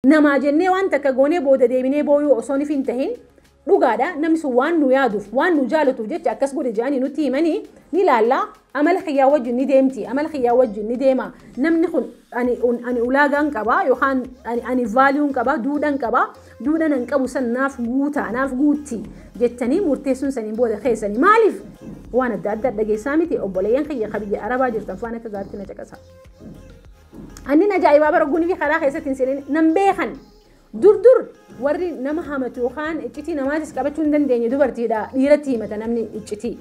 Namaa jennee waan takka goonee booda deebinee booyuu osoo nif hin tahin dhugaadha namni sun waan nu yaaduuf waan nu jaalatuuf jecha akkas godhe jedhanii nutti himanii ni laalla amala kiyyaa wajjin ni deemti amala kiyyaa wajjin ni deema namni kun ani, un- ani ulaagaan qaba yookaan ani, ani vaaliyuun qaba duudhan qaba duudhan an qabu san naaf guuta naaf guutti jettanii murteessuun saniin booda keessanii maaliif waan adda addaa dhageessaa miti obboleeyyan kiyya ka biyya arabaa jirtan faan akka gaaritti na caqasa. Annin ajaa'ibaa bara gunifii karaa keessatti hin seenin nan beekan. Dur dur warri nama hamatu yookaan iccitii namaatis qabachuu hin dandeenye dubartiidha dhiiratti himata namni iccitii.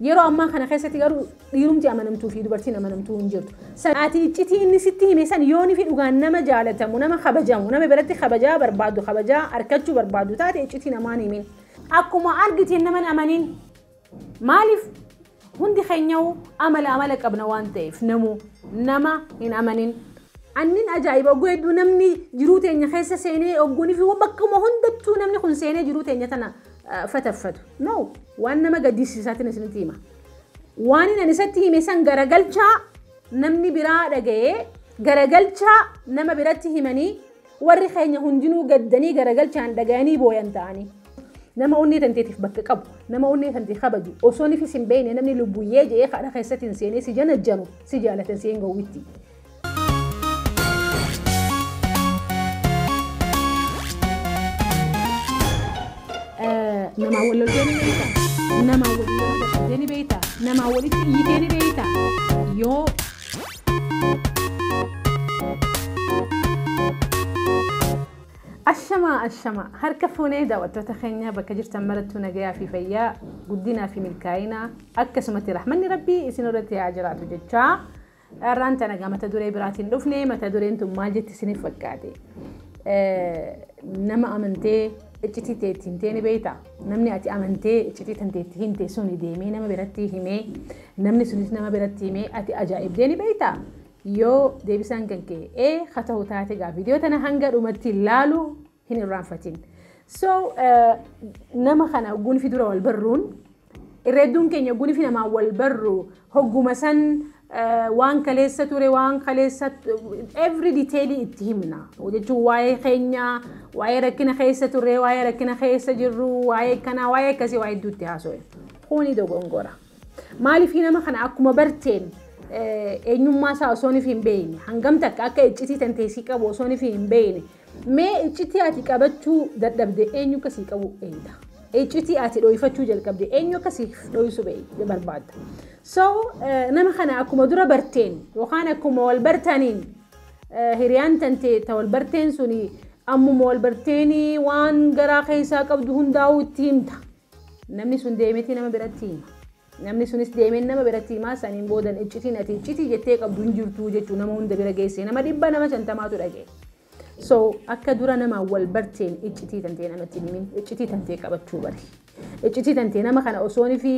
Yeroo ammaa kana keessatti garuu dhiirumti amanamtuu fi dubartiin amanamtuu hin jirtu. Sa'aatii iccitii inni sitti hime san yoonii fi dhugaan nama jaalatamu, nama kabajamu, nama biratti kabajaa barbaadu, kabajaa arkachuu barbaadu taate iccitii namaan himin. Akkuma argiteen nama hin amanin. Maaliif hundi keenyawuu amala amala qabna waan ta'eef namuu nama hin amanin. Annin ajaa'iba ogguu hedduu namni jiruu teenya keessa seenee ogguunii fi bakkuma hundattuu namni kun seenee jiruu teenya tana fataffatu. No waan nama gaddisiisaatiin isinitti hima. Waanin ani isatti hime san garagalchaa namni biraa dhaga'ee garagalchaa nama biratti himanii Warri keenya hundinuu gaddanii garagalchaan dhagayanii booyan ta'anii. Nama onnee tanteetiif bakka qabu, nama onnee tantee kabaju, osoo nifis hin beekne namni lubbuyyee je'ee kadha keessatti hin seenee si janajjanu, si jaalatan si hin gowwitti. Namaa wal loltee ni beekta, namaa wal loltee ni beekta, namaa walitti iyyitee ni beekta. Yoo Ashamaa ashamaa harka fuunee daawwattoota keenya bakka jirtan marattuu nagayaa fi fayyaa guddinaa fi milkaa'inaa akkasumatti rahmanni rabbii isin irratti haa jiraatu jechaa dharraan tana egaa mata duree biraatiin dhufne mata dureen tun maal jetti isiniif fakkaate nama amantee iccitii teetti himtee ni beektaa Namni ati amantee iccitii tantee itti himte suni deemee nama biratti himee namni sunis nama biratti himee ati ajaa'ibdee ni beekta? Yoo deebisaan kan kee ee ka ta'u taate gaa viidiyoo tana hanga dhumatti laalu hin irraanfatin. So nama kana gunfi dura wal barruun irra hedduun keenya gunfi namaan wal barru Hogguma san waan kaleessa ture, waan kaleessa every detail itti himna. Jechuun waa'ee keenya, waa'ee rakkina keessa turre, waa'ee rakkina keessa jirru, waa'ee kanaa, waa'ee akkasii waa hedduu itti haasofna. Kuni dogongora. Maaliif nama kana akkuma barteen eenyummaa isaa osoo hin beekne hangam takka akka iccitii tanteessii qabu osoo hin beekne Mee iccitii ati qabachuu dadhabde eenyu akka sii qabu eeyda? Iccitii ati dhooyfachuu jalqabde eenyu akka siif dhooysu barbaadda? So nama kana akkuma dura barteen yookaan akkuma wal bartaniin hiriyaan tante ta wal barteen suni ammuma wal barteenii waan garaa keessaa qabdu hundaa'uu itti himta. Namni sun deemetii nama biratti hima. Namni sunis deemeen nama biratti himaa saniin boodan iccitiin ati iccitii jettee qabdu hin jirtuu jechuu nama hunda bira geesse nama dhibba nama shantamaatu dhaga'e. So akka dura namaan wal barteen iccitii tantee namatti hin himin iccitii tantee qabachuu bari. Iccitii tantee nama kana osoon fi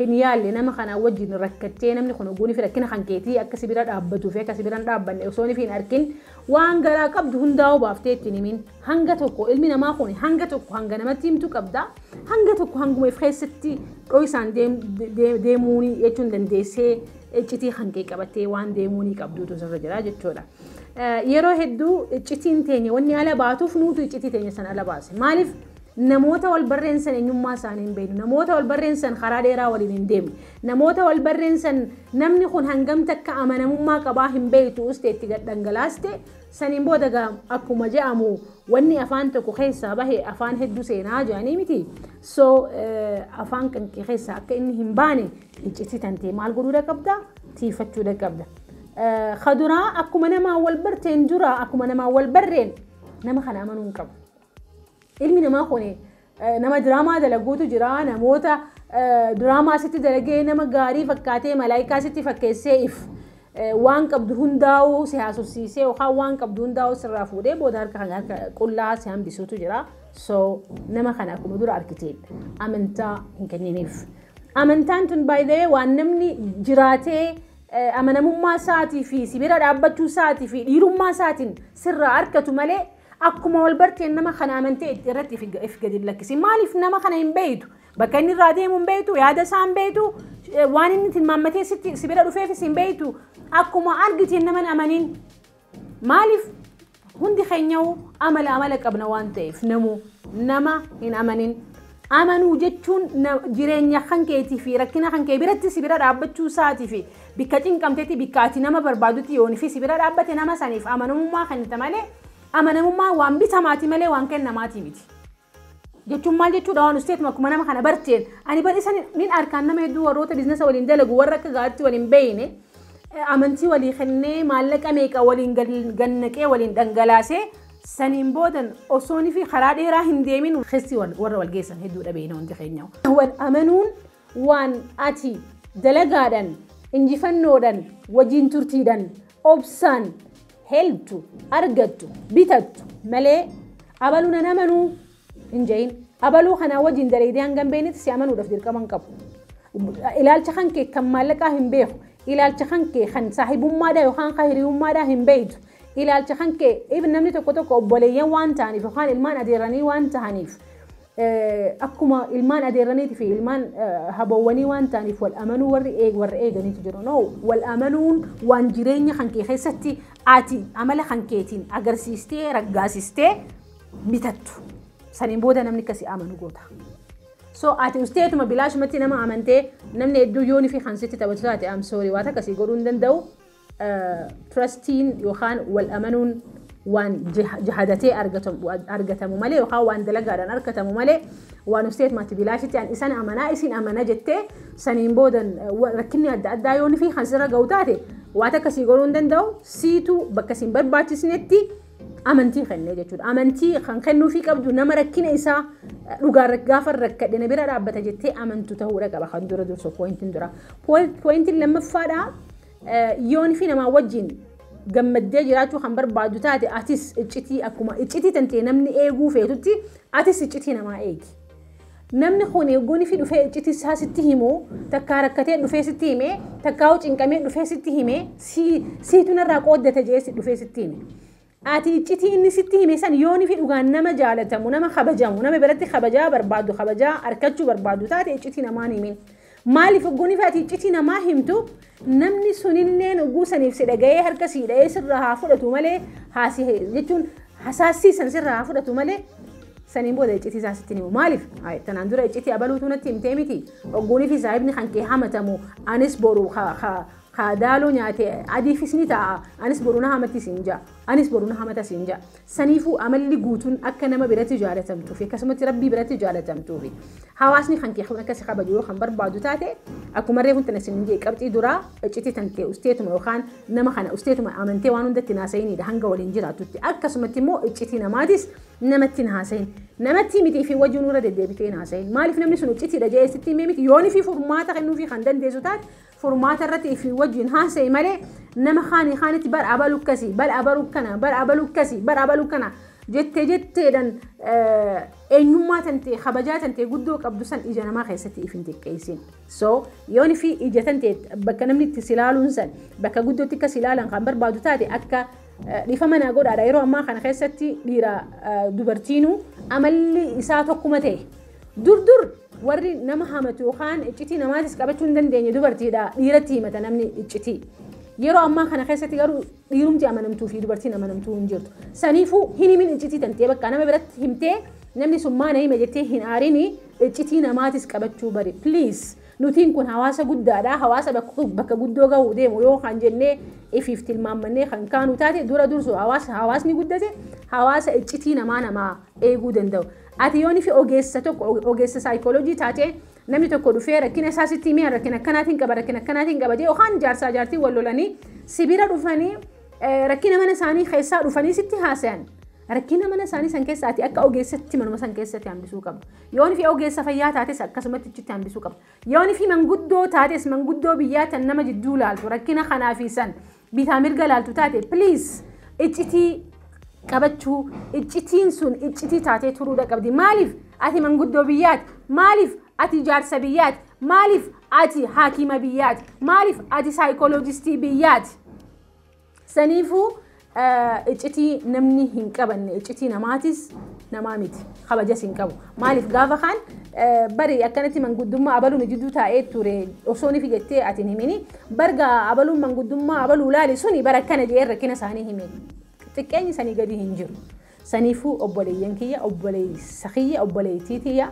hin yaalle nama kanaa wajjin rakkattee namni kun oguun fi rakkina kan keetii akka si bira dhaabbatuu fi akka si bira hin dhaabbanne osoon fi hin arkin waan garaa qabdu hundaa obaaftee ittiin himin. Hanga tokko ilmi namaa kun hanga tokko hanga namatti himtu qabda. Hanga tokko hanguma if keessatti dho'isaan deemuuni jechuun dandeessee iccitii kan kee qabattee waan deemuuni qabduutu sirra jira jechuudha. Yeroo hedduu iccitiin teenya wanni ala baatuuf nuutu iccitii teenya san ala baase. Maaliif namoota wal barreessan eenyummaa isaanii hin beeknu. Namoota wal barreessan karaa dheeraa waliin hin deemne. Namoota wal barreessan namni kun hangam takka amanamummaa qabaa hin beektu uste itti gad dhangalaaste Saniin booda egaa akkuma je'amu wanni afaan tokko keessaa bahe afaan hedduu seenaa je'anii miti. So afaan kan kee keessaa akka inni hin baane iccitii tantee maal godhuudha qabda? Tiifachuudha qabda. Kaduraa akkuma namaa wal barteen dura akkuma namaa wal barreen nama kana amanuu hin qabu. Ilmi namaa kun Nama diraamaa dalaguutu jira. Namoota diraamaa sitti dalagee nama gaarii fakkaatee malaayikaa sitti fakkeessee if waan qabdu hundaa'uu si haasofsiisee yookaan waan qabdu hundaa'uu sirraa fuudhee booda harka kan harka qullaa si hambisuutu jira. So nama kana akkuma dura argiteen amantaa hin kenniniif. Amantaan tun baay'ee waan namni jiraatee amanamummaa isaatii fi si bira dhaabbachuu isaatii fi dhiirummaa isaatiin sirraa argatu malee Akkuma wal barteen nama kana amantee itti irratti if if gadi hin lakkisiin. Maaliif nama kana hin beektu? Bakka inni irraa deemu hin beektu, yaada isaa hin beektu, eh, waan inni tilmaammatee sitti si bira dhufeefis hin beektu. Akkuma argiteen nama hin amaniin. Maaliif hundi keenyayyuu amala amala qabna waan ta'eef namuu nama hin amanin. Amanuu jechuun jireenya kan keetii fi rakkina kan kee biratti si bira dhaabbachuu isaati fi bikka cinqamtetti bikka ati nama barbaadutti yoon fi si bira dhaabbate nama saniif amanamummaa kennita malee amanamummaan waan bitamaati malee waan kennamaati miti. jechuun maal jechuudha waan usteetuma akkuma nama kana barteen ani bar isa nin arkaan nama hedduu warroota biiznasa waliin dalagu warra akka gaaritti waliin beeyne amantii walii kennee maallaqa meeqa waliin gannaqee waliin dhangalaasee Saniin boodan osoonifi karaa dheeraa hin deemin keessi warra wal geessan hedduudha beeyna hundi keenya. Wal amanuun waan ati dalagaadhan, injifannoodhan, wajiin turtiidhan, obsaan helptu, argattu, bitattu malee abalu nan amanuu, hin ja'iin. Abaluu kanaa wajiin daleydee hangan beeynetti si amanuudhaf dirqama hin qabu. Ilaalcha kan kee kan maallaqaa hin beeku. Ilaalcha kan kee kan saahibummaadhaa yookaan kan hiriyummaadhaa hin beeytu. Ilaalcha kan kee even namni tokko tokko obboleeyyan waan ta'aniif yookaan ilmaan adeerranii waan ta'aniif akkuma ilmaan adeerraniitii fi ilmaan haboowwanii waan ta'aniif wal amanuu warri eeg warra eeganiitu jiru. No wal amanuun waan jireenya kan kee keessatti ati amala kan keetiin agarsiistee raggaasistee bitattu. Saniin booda namni akkasii amanu goota. So ati usteetuma bilaashumatti nama amantee namni hedduu yoon fi kan sitti taphatu taate am sorry waan akkasii godhuu hin danda'u. Trustiin yookaan wal amanuun waan jahadatee argatamu malee yookaan waan dalagaadhaan argatamu malee waan usteetumatti bilaashitti an isan amanaa isin amana jettee saniin booda rakkinni adda addaa yoon fi kan sirra ga'u taate waan akkasii godhuu hin danda'u siitu bakka isin barbaachisnetti amantii kennee jechuudha. Amantii kan kennuufii qabdu nama rakkina isaa dhugaa gaafa rakkadhe na bira dhaabbata jettee amantu ta'uudha qaba kan dura dursu poointiin dura. Poointiin lammaffaadha yoon fi namaa wajjin gammaddee jiraachuu kan barbaadu taate atis iccitii akkuma iccitii tantee namni eeguu feetutti atis iccitii namaa eegi. Namni kun yogguu nifi dhufee iccitii isaa sitti himu, takkaa rakkatee dhufee sitti hime, takkaahuu cinqamee dhufee sitti hime, si, siitu narraa qooddate jedhee si dhufee sitti hime. Ati iccitii inni sitti hime san yoo nifi dhugaan nama jaalatamu, nama kabajamu, nama biratti kabajaa barbaaddu, kabajaa arkachuu barbaaddu taate iccitii namaan himin. Maaliif ogguuniif ati iccitii namaa himtu namni suninneen ogguu saniif si dhaga'ee harka sii dha'ee sirraa haa fudhatu malee haasi jechuun hasaassii san sirraa haa fudhatu malee saniin booda iccitii isaa sitti himu maaliif Ay, tanaan dura iccitii abaluutu natti himtee miti ogguunii fi saahibni kan kee hamatamu anis boru ka- ka- ka daaloo nyaate adiifis ni ta'a anis boru na hamatti siin ja'a anis boru na hamata siin ja'a Saniifuu amalli guutuun akka nama biratti jaalatamtuu fi akkasumatti Rabbii biratti jaalatamtuu fi hawaasni kan kee kun akka si kabaju yoo kan barbaadu taate akkuma reefu tana sin jee qabxii duraa iccitii tan tee usteetuma yookaan nama kana usteetuma amantee waan hundatti naasa'inidha hanga waliin jiraatutti akkasumatti immoo iccitii namaatis namatti naasa'in namatti miti fi wajjin irra deddeebitee naasa'in maaliif namni sun iccitiidha jee sitti himee miti yoonii fi furmaata kennuufii kan dandeessu taate furmaata irrati ifi wajin hasayi male nama kaani kaaniti bar abalu akkasi bar abalu akkana bar abalu akkasi bar abalu akkana jette jetteedhan eenyummaa tantee kabajaa tantee guddoo qabdu san ija namaa keessatti ifin xiqqeessin so yoon fi ija tantee bakka namni itti silaaluun san bakka guddootti akka silaalan kan barbaadu taate akka dhiifama naa godhaadha yeroo ammaa kana keessatti dhiira dubartiinuu amalli isaa tokkuma ta'e Dur dur warri nama hamatu yookaan iccitii namaatis qabachuu hin dandeenye dubartiidha dhiiratti himata namni iccitii. Yeroo ammaa kana keessatti garuu dhiirumti amanamtuu fi dubartiin amanamtuu hin jirtu. Saniifuu hin himin iccitii tantee bakka nama biratti himtee namni sun maana hime jettee hin aarini iccitii namaatis qabachuu bari. Please nutiin kun hawaasa guddaadha hawaasa bakka guddoo gahuu deemu yoo kan jennee ifiif tilmaammannee kan kaanu taate dura dursu hawaasni guddate hawaasa iccitii namaa namaa eeguu danda'u. Ati yoo nifi ogeessa tokko ogeessa saayikoolojii taatee namni tokko dhufee rakkina isaa sitti himee rakkina akkanaatiin qaba rakkina akkanaatiin qaba jedhee yookaan jaarsaa jaartii wal lolanii sibira dhufanii rakkina mana isaanii keessaa dhufanii sitti haasayan rakkina mana isaanii san keessa ati akka ogeessatti manuma san keessatti hambisuu qabda. Yoo nifi ogeessa fayyaa taates akkasumatti achitti hambisuu qabda. Yoo nifi manguddoo taates manguddoo biyyaa tan nama jidduu laaltu rakkina kanaa fi san bitaa mirga laaltu taate please iccitii qabachuu iccitiin sun iccitii taatee turuudha qabdi maaliif ati manguddoo biyyaati maaliif ati jaarsa biyyaati maaliif ati haakima biyyaati maaliif ati saayikooloojistii biyyaati saniifuu eh, iccitii namni hin qabanne iccitii namaatis namaa miti kabajas hin qabu Maaliif gaafa kaan bari akkanatti manguddummaa abaluu nu jidduu taa'ee ture osoo nifi jettee ati hin himini barga abaluun manguddummaa abaluu laali suni bara akkana jee rakkina isaanii hime xiqqeenyi sanii gadi hin jiru. Saniifuu obboleeyyan kiyya obboleessa kiyya obboleettii tiyya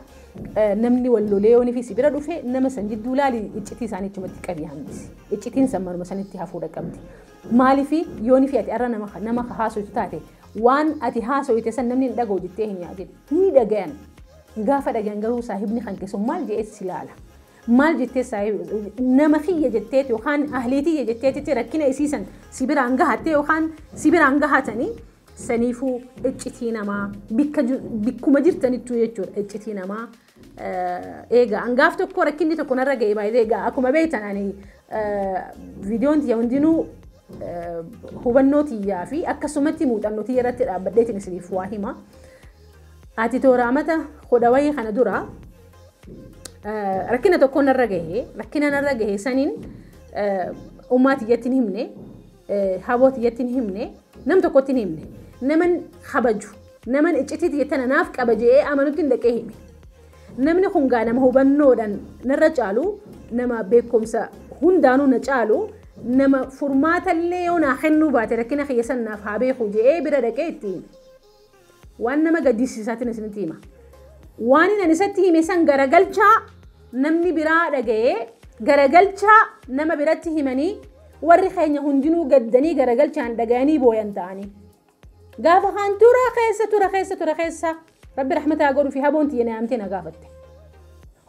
namni wal lolee yoo nifi si bira dhufe nama san jidduu laali iccitii isaanii achumatti qabi hambisi. Iccitiin san manuma sanitti hafuudha qabdi. Maaliif yoo nifi ati arra nama nama haasoytu taate Waan ati haasoyte san namni hin dhagahu jettee hin yaadin. Ni dhagayan. Gaafa dhagayan garuu saahibni kan keessu maal jedhees si laala. Maal jettee saahib nama kiyya jetteeti yookaan ahlii tiyya jetteetitti rakkina isiisan si biraan gahattee yookaan si biraan gahatanii saniifuu iccitii namaa bikka bikkuma jirtanittuu jechuudha iccitii namaa Eegaa an gaaf tokko rakkinni tokko narra ga'e baay'ee egaa akkuma beektan ani viidiyoon tiyya hundinuu hubannoo tiyyaa fi akkasumatti muuxannoo tiyya irratti dhaabbadheetiin isiniif waa hima. Ati tooraamata hodha wayii kana dura rakkina tokko narra gahe rakkina narra gahe saniin ummaa tiyyatti hin himne Haboo tiyyatti hin himne, nam tokkotti hin himne. Naman kabaju, naman iccitii tiyya tana naaf qaba je'ee amanutti hin dhaqee hime. Namni kun gaa nama hubannoodhaan narra caalu, nama beekumsa hundaanuu na caalu, nama furmaatallee yoo naa kennuu baate rakkina kiyya san naaf haa beeku je'ee bira dhaqee itti hime. Waan nama gaddisiisaatiin isinitti hima. Waanin ani isatti hime san garagalchaa namni biraa dhagayee garagalchaa nama biratti himanii warri keenya hundinuu gaddanii garagalchaan dhagayanii booyan ta'anii. Gaafa kaan tura keessa tura keessa tura keessa rabbi rahmataa godhu fi haboon tiyya naamtee na gaafatte.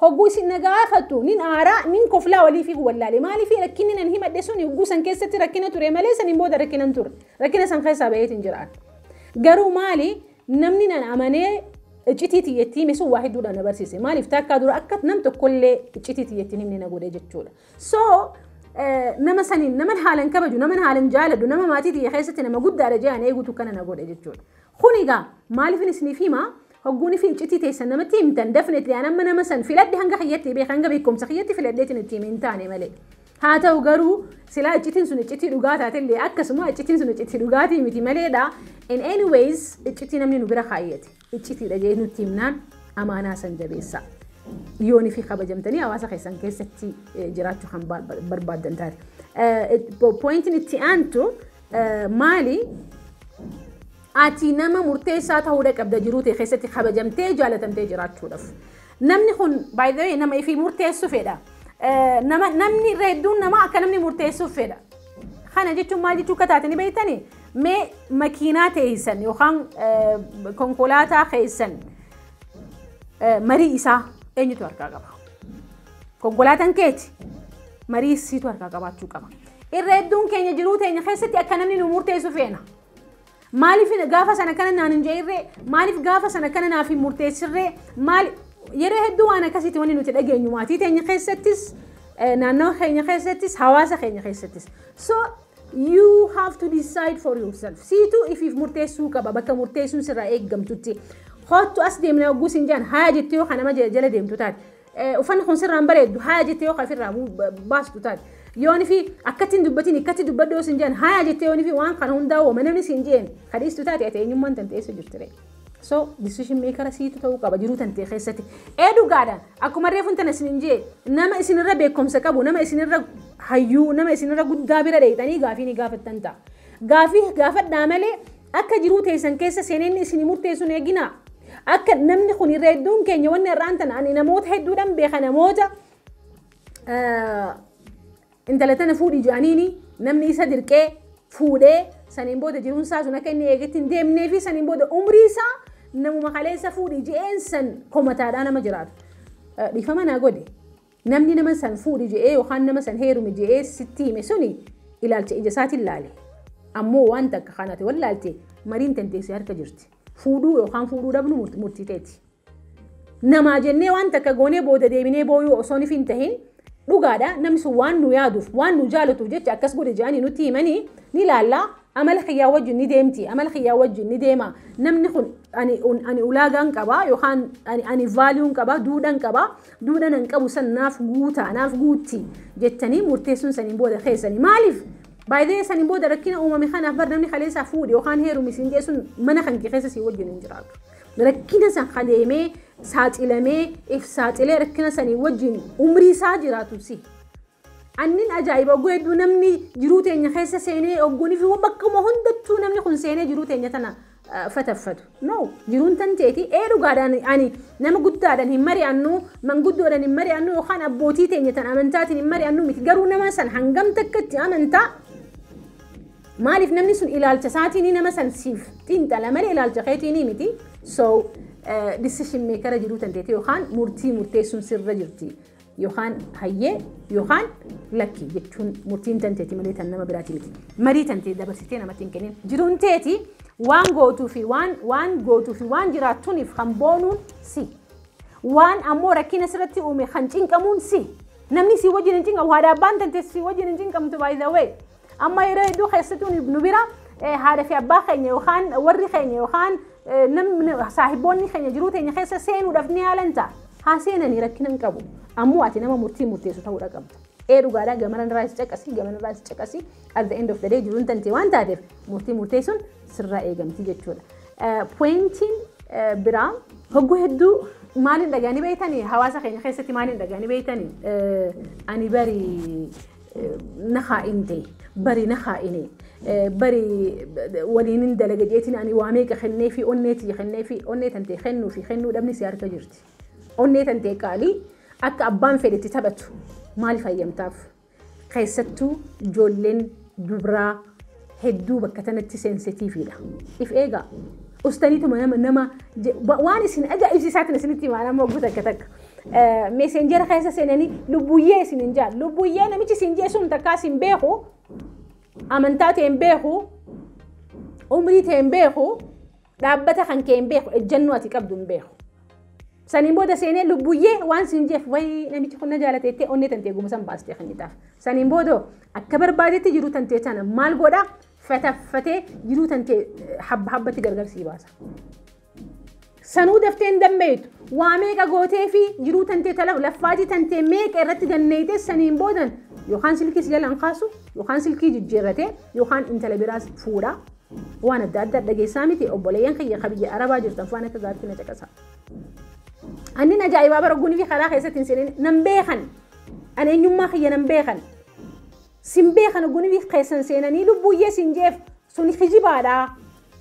Hogguu isin na gaafatu nin aaraa nin koflaa walii fi wallaalee maalii fi rakkinni nan himadhe sun hogguu san keessatti rakkina ture malee saniin booda rakkinan ture rakkina san keessaa baheetiin jiraan. Garuu maali namni nan amanee iccitii tiyya itti hime sun waa hedduudha na barsiise. Maaliif takkaa dura akka nam tokkollee iccitii tiyya itti himne na godhe jechuudha. So nama saniin naman haalan kabaju naman haalan jaaladhu nama maatii tiyya keessatti nama guddaadha jedhan eegutu kana na godhe jechuudha. Kun egaa maaliifin isiniif hima Hogguu nifi iccitii teessan namatti himtan definitely an amma nama san filadhe hanga kiyyatti beeka hanga beekumsa kiyyatti filadheetin itti hime hin taane malee. Haa ta'u garuu silaa iccitiin sun iccitii dhugaa taatellee akkasuma iccitiin sun iccitii dhugaatii miti maleedha. In any ways iccitii namni nu bira kaayyate iccitiidha jee nutti himnaan amaanaa san jabeessa. Yoonii fi kabajamtanii hawaasa keessan keessatti jiraachuu kan barbaaddan taate. Pointiin itti aantu maali? Ati nama murteessaa ta'uudha qabda jiruu tee keessatti kabajamtee jaalatamtee jiraachuudhaf. Namni kun by the way nama ifii murteessu fedha. Nama namni irra hedduun nama akka namni murteessuuf fedha. Kana jechuun maal jechuu akka taate ni beektani? Mee makiinaa teessan yookaan konkolaataa keessan marii isaa eenyutu harkaa qaba? Konkolaataan keeti marii siitu harkaa qabaachuu qaba. Irra hedduun keenya jiruu teenya keessatti akka namni nu murteessu feena. Maaliif gaafa sana akkana naan hin je'irree? Maaliif gaafa sana akkana naaf hin murteessirree? Maal yeroo hedduu waan akkasiitti wanni nuti dhageenyu maatii teenya keessattis naannawa keenya keessattis hawaasa keenya keessattis. So you have to decide for yourself. Siituu ifiif murteessuu qaba bakka murteessuun sirraa eeggamtutti. Hoottu as deemnee hogguu siin jedhan haa jettee yoo kanama jala deemtu taate. Uffanni kun sirraa hin bareeddu haya jettee yoo ofirraa baastu taate. Yoon fi akkatti hin dubbatin ikkatti dubbadhu yoo sin jedhan haya jettee yoon fi waan kana hundaa wama namni sin jeen ka dhiistu taate ati eenyummaan tante eessa jirtire. So decision maker siitu ta'uu qaba jiruu tante keessatti. Ee dhugaadha akkuma reefun tana sin jee nama isinirra beekumsa qabu nama isinirra hayyuu nama isinirra guddaa bira dheeyxanii gaafii ni gaafattan ta'a. Gaafii gaafadhaa malee akka jiruu teessan keessa seenee inni isinii murteessuun eeginaa. Akka namni kun irra hedduun keenya wanni har'aan tana ani namoota hedduudhaan beeka namoota intala tana fuudhi jedhaniini namni isa dirqee fuudhee saniin booda jiruun isaa sun akka inni eegetti hin deemnee fi saniin booda umrii isaa namuma kaleessa fuudhi je'een san komataadhaa nama jiraatu. Dhiifama naa godhi. Namni nama san fuudhi je'ee yookaan nama san heerumi je'ee sitti hime suni ilaalcha ija isaatiin laale. Ammoo waan takka kan ati wallaalte mariin tantee si harka jirti. Fuudhuu yookaan fuudhuu dhabnu murtii teeti. Namaa jennee waan takka goonee booda deebinee booyuu osoo nif hin tahin dhugaadha namni sun waan nu yaaduuf waan nu jaalatuuf jecha akkas godhe je'anii nutti himanii ni laallaa Amala kiyyaa wajjin ni deemti, amala kiyyaa wajjin ni deema. Namni kun ani, ani ulaagaan qaba yookaan ani, ani vaaliyuun qaba, duudhan qaba. Duudhan an qabu san naaf guuta, naaf guutti jettanii murteessuun saniin booda keessani. Maaliif? Baay'ee saniin booda rakkina uumame kanaaf bar namni kaleessaa fuudhe yookaan heerumi siin jee sun mana kan kee keessa sii wajjin hin jiraatu. Rakkina san kaleemee saaxilamee if saaxilee rakkina sanii wajjin umrii isaa jiraatu si. Annin ajaa'iba ogguu hedduu namni jiruu teenya keessa seenee ogguunii fi bakkuma hundattuu namni kun seenee jiruu teenya tana fataffatu. No, jiruun tan teeti ee dhugaadhaan ani nama guddaadhaan hin mari'annu, manguddoodhaan hin mari'annu yookaan abbootii teenya tan amantaatiin hin mari'annu miti. Garuu nama san hangam takka itti amantaa? Maaliif namni sun ilaalcha isaatiin nama san siif xiinxala malee ilaalcha keetiin miti. So, decision maker jiruu tan teeti yookaan murtii murteessuun sirra jirti. yookaan hayyee yookaan lakki jechuun murtiin tanteeti malee tan nama biraati miti. Marii tantee dabarsitee namatti hin kennin. Jiruun teeti waan gootuu fi waan waan gootuu fi waan jiraattuuniif kan boonuun si. Waan ammoo rakkina sirratti uume kan cinqamuun si. Namni si wajjin hin cinqamu haadha abbaan tantee si wajjin hin cinqamtu by the way. Amma yeroo hedduu keessattuu nu- nu bira eh, haadha fi abbaa keenya yookaan warri keenya yookaan eh, namni saahiboonni keenya jiruu teenya keessa seenuudhaaf ni yaalan ta'a. Haa seenanii rakkina hin qabu. Ammoo ati nama murtii murteessu ta'uudha qabda. Ee dhugaadhaa gamana irraa is caqasii gamana irraa is caqasii at the end of the day jiruun tantee waan taateef murtii murteessuun sirraa eegamti jechuudha. Eh, Pointiin eh, biraa hogguu hedduu maaliin dhagaanii beektanii hawaasa keenya keessatti maaliin dhagaanii beektanii Eh, ani barii nahaa indee bari nahaa inee bari waliin hin dalaga jeetiin ani waa meeqa kennee fi onnee tiyya kennee fi onnee tantee kennuu fi kennuu dhabni si harka jirti. Onnee tantee qaalii akka abbaan fedhetti taphatu maaliif hayyamtaaf? Keessattuu ijoolleen dubraa hedduu bakka tanatti sensitiifiidha. If eegaa. Ustaniituma nama nama je- wa- waan isin ajaa'ibsiisaatiin isinitti himaan amma oguu takka takka. Eh, Meseenjera keessa seenanii lubbuyyee isin hin jaan. Lubbuyyee namichi isin jee sun takkaa isin beeku. Amantaa ta'e hin beeku. Umrii ta'e hin beeku. Dhaabbata kan kee hin beeku, ejjennoo ati qabdu hin beeku. Saniin booda seenee lubbuyyee waan siin jeef wayii namichi kun na jaalate jettee onnee tantee gumusan baastee kennitaaf. Saniin booda akka barbaadetti jiruu tantee tana maal godha fataffatee jiruu tantee habba habbatti gargar sii baasa. Sanuu daftee hin dammeeytu. Waa meeqa gootee fi jiruu tantee tala laffaatii tantee meeqa irratti danneeytee saniin boodan yookaan silkii si jalaan kaasu yookaan silkii jijjiirratee yookaan intala biraas fuudha. Waan adda addaa dhageessaa miti obboleeyyan kiyya ka biyya arabaa jirtan faan akka gaariitti na caqasa. Annin ajaa'ibaa bara gunii fi karaa keessatti hin seenin nan beekan. An eenyummaa kiyya nan beekan. Sin beekan gunii fi keessan seenanii lubbuyyee sin jeef sun kijibaadha.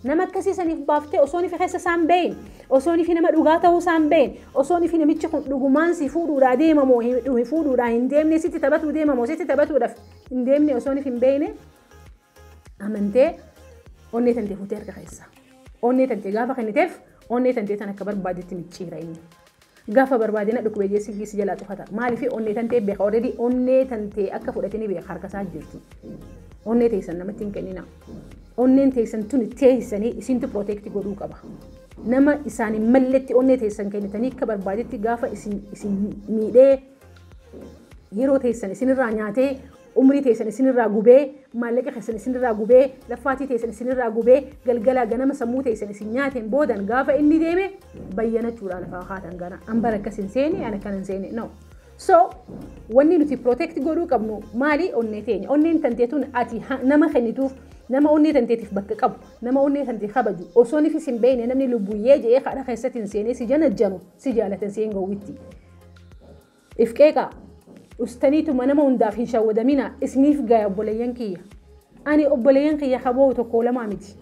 Nama akkasii saniif baaftee osoon fi keessa isaan beeyin. Osoon fi nama dhugaa ta'uu isaan beeyin. Osoon fi namichi kun dhugumaan si fuudhuudhaa deemamoo hin fuudhuudhaa hin deemne sitti taphatuu deemamoo sitti taphatuudhaaf hin deemne osoon fi hin beeyne Amantee onnee tantee fuutee harka keessa. Onnee tantee gaafa kenniteef onnee tantee tan akka barbaadetti micciira inni. Gaafa barbaadina dhukkubee jeessi giisi jalaa cufata. Maaliif onnee tantee beeka already onnee tantee akka fudhate ni beeka harka isaa jirti. Onnee teessan namatti hin kennina. Onneen teessan tuni teessanii isintu protect godhuu qaba. Nama isaan hin malletti onnee teessan kennitanii akka barbaadetti gaafa isin isin miidhee yeroo teessan isinirraa nyaatee umrii teessan isin irraa gubee, maallaqa keessan isin irraa gubee, laffaatii teessan isin irraa gubee, galgalaa ganama sammuu teessan isin nyaateen boodan gaafa inni deeme bayyanachuudhaa lafaa kaatan gana. An bara akkas hin seene, an akkan hin seene. No. So, wanni nuti protect godhuu qabnu maali onnee teenya. Onneen tanteetuun ati ha- nama kennituuf nama onnee tanteetiif bakka qabu, nama onnee tantee kabaju, osoo nifis hin beekne namni lubbuyyee jedhee kadha keessatti hin seenee si janajjanu, si jaalatan si hin gowwitti. If qeeqaa. Dhustaniituma nama hundaaf hin shawwadaminaa isiniif gaya obboleeyyan kiyya. Ani obboleeyyan kiyya ka boo'u tokkoo lamaa miti.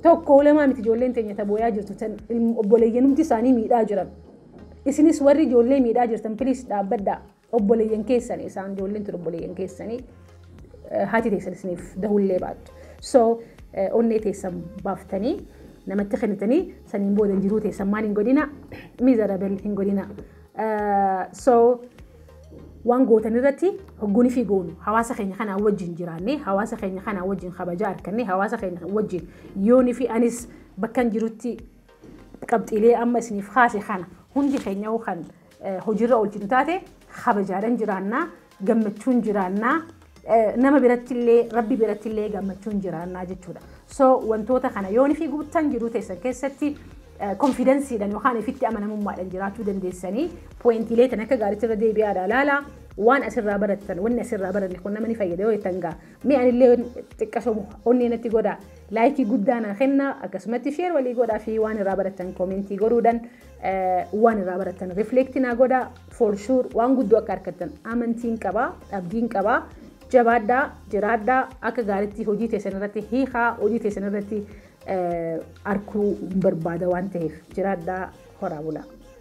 Tokkoo lamaa miti ijoolleen teenya ta booyaa jirtu tan obboleeyyanumti isaanii miidhaa jiran. Isinis warri ijoollee miidhaa jirtan piliis dhaabbadhaa. Obboleeyyan keessani isaan ijoolleen tun obboleeyyan keessanii haati teessan isiniif dahullee baattu. So onnee teessan baaftanii namatti kennitanii saniin booda jiruu teessan maal hin godhina miserable hin godhina. So waan gootan irratti hogguun fi goonu hawaasa keenya kanaa wajjin jiraannee hawaasa keenya kanaa wajjin kabajaa argannee hawaasa keenya wajjin yoonii fi anis bakkan jirutti qabxiilee amma isiniif kaase kana hundi keenya kan hojiirra oolchinu taate kabajaadhaan jiraannaa gammachuun jiraannaa nama birattillee rabbi birattillee gammachuun jiraannaa jechuudha. So wantoota kana yoon fi guuttan jiruu teessan keessatti konfidansiidhaan yookaan ifitti amanamummaadhaan jiraachuu dandeessanii pooyintiilee tan akka gaariitti irra deebi'aadha laala waan asirraa barattan wanni asirraa baranne kun nama ni fayyada yoo jettan gaa mee anillee xiqqasoo onnee natti godha laayikii guddaa naa kenna akkasumatti sheer walii godhaa fi waan irraa barattan koomentii godhuudhaan waan irraa barattan reflect naa godha for sure waan guddoo akka argattan amantiin qaba abdiin qaba jabaadhaa jiraadhaa akka gaaritti hojii teessan irratti hiikaa hojii teessan irratti arkuu barbaada waan ta'eef jiraadhaa horaa bulaa.